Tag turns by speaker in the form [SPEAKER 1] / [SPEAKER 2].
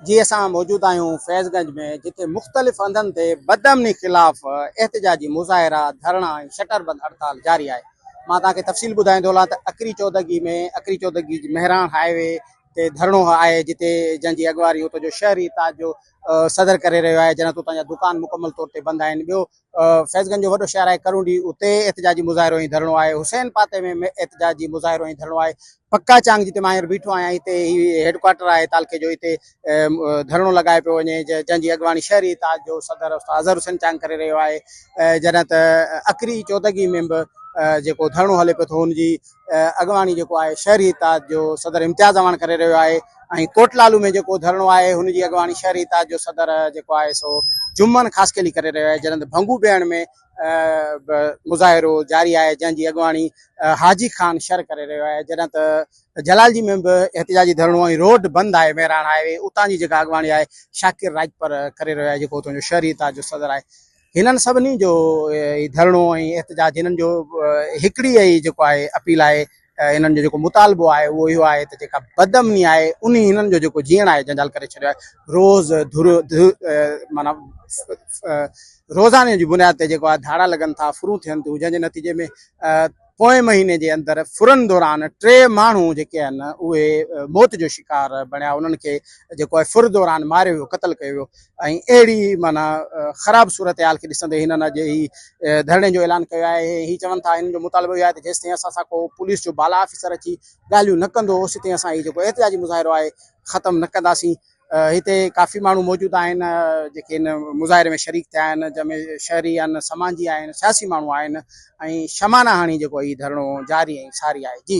[SPEAKER 1] جي اسان موجود آهيون فيض گنج ۾ جتي مختلف هنڌن تي بدامني خلاف احتجاجي مظاهرا، ڌرڻا ۽ شٽر بند هڙتال جاري آهي. مان توهان کي تفصيل ٻڌائيندو هلان ته اکري چودڳي ۾ اکري چودڳي مهراڻ هاء وي تي ڌرڻو آهي جتي جنهن جي اڳواڻي اتو جو شهري اتحاد جو صدر ڪري رهيو آهي جڏهن ته اتان جا دڪان مڪمل طور تي بند آهن ٻيو فيض گنج جو وڏو شهر آهي ڪرونڊي اتي احتجاجي مظاهرو ۽ ڌرڻو آهي حسين پاتي ۾ احتجاجي مظاهرو ۽ ڌرڻو آهي پڪا چانگ جتي مان هينئر بيٺو آهيان هتي هي هيڊڪوارٽر آهي تعلقي جو هتي ڌرڻو لڳايو پيو وڃي جنهن جي اڳواڻي شهري اتحاد جو صدر استاد اظهر حسين چانگ ڪري رهيو آهي جڏهن ته اکري چودگي ۾ به جيڪو ڌرڻو هلي پيو ٿو ان جي اڳواڻي جيڪو آهي شهري اتحاد جو صدر امتياز اعواڻ ڪري رهيو آهي ۽ ڪوٽ لالو ۾ جيڪو ڌرڻو آهي ان جي اڳواڻي شهري اتحاد جو صدر جيڪو آهي سو جمن خاصخيلي ڪري رهيو آهي جڏهن ته ڀنگو بيهڻ ۾ به مظاهرو جاري آهي جنهن جي اڳواڻي حاجي خان شر ڪري رهيو آهي جڏهن ته جلالجي ۾ به احتجاجي ڌرڻو ۽ روڊ بند آهي مهراڻ هاء وي اتان جي جيڪا اڳواڻي آهي شاڪر راڄپر ڪري رهيو آهي جيڪو اتان جو شهري اتحاد جو صدر آهي هنن سڀني جو هي ڌرڻو ۽ احتجاج هنن جو هڪڙي ئي جيڪو آهي اپيل آهي هنن جو جيڪو مطالبو آهي اهو اهو آهي ته جيڪا بد امني آهي انهي هنن جو جيڪو جيئڻ آهي جنجال ڪري ڇڏيو آهي روز معنيٰ روزاني جي بنياد تي جيڪو آهي ڌاڙا لڳن ٿا ڦرون ٿين ٿيون جنهن جي نتيجي ۾ پوئين مهيني جي اندر ڦرن دوران ٽي ماڻهو جيڪي آهن اهي موت جو شڪار بڻيا انهن کي جيڪو آهي ڦر دوران ماريو ويو قتل ڪيو ويو ۽ اهڙي معنيٰ خراب صورتحال کي ڏسندي هنن اڄ هي ڌرڻي جو اعلان ڪيو آهي ۽ هي چون ٿا هنن جو مطالبو اهو آهي ته جيستائين اسان سان ڪو پوليس جو بالا آفيسر اچي ڳالهيون نه ڪندو اوسيتائين اسان هي جيڪو احتجاجي مظاهرو آهي ختم نه ڪنداسين هتي ڪافي ماڻهو موجود آهن جيڪي هن مظاهري ۾ شريڪ ٿيا آهن جنهن ۾ شهري آهن سماجي آهن سياسي ماڻهو آهن ۽ شمانه هڻي جيڪو هي ڌرڻو جاري ۽ ساري آهي جي.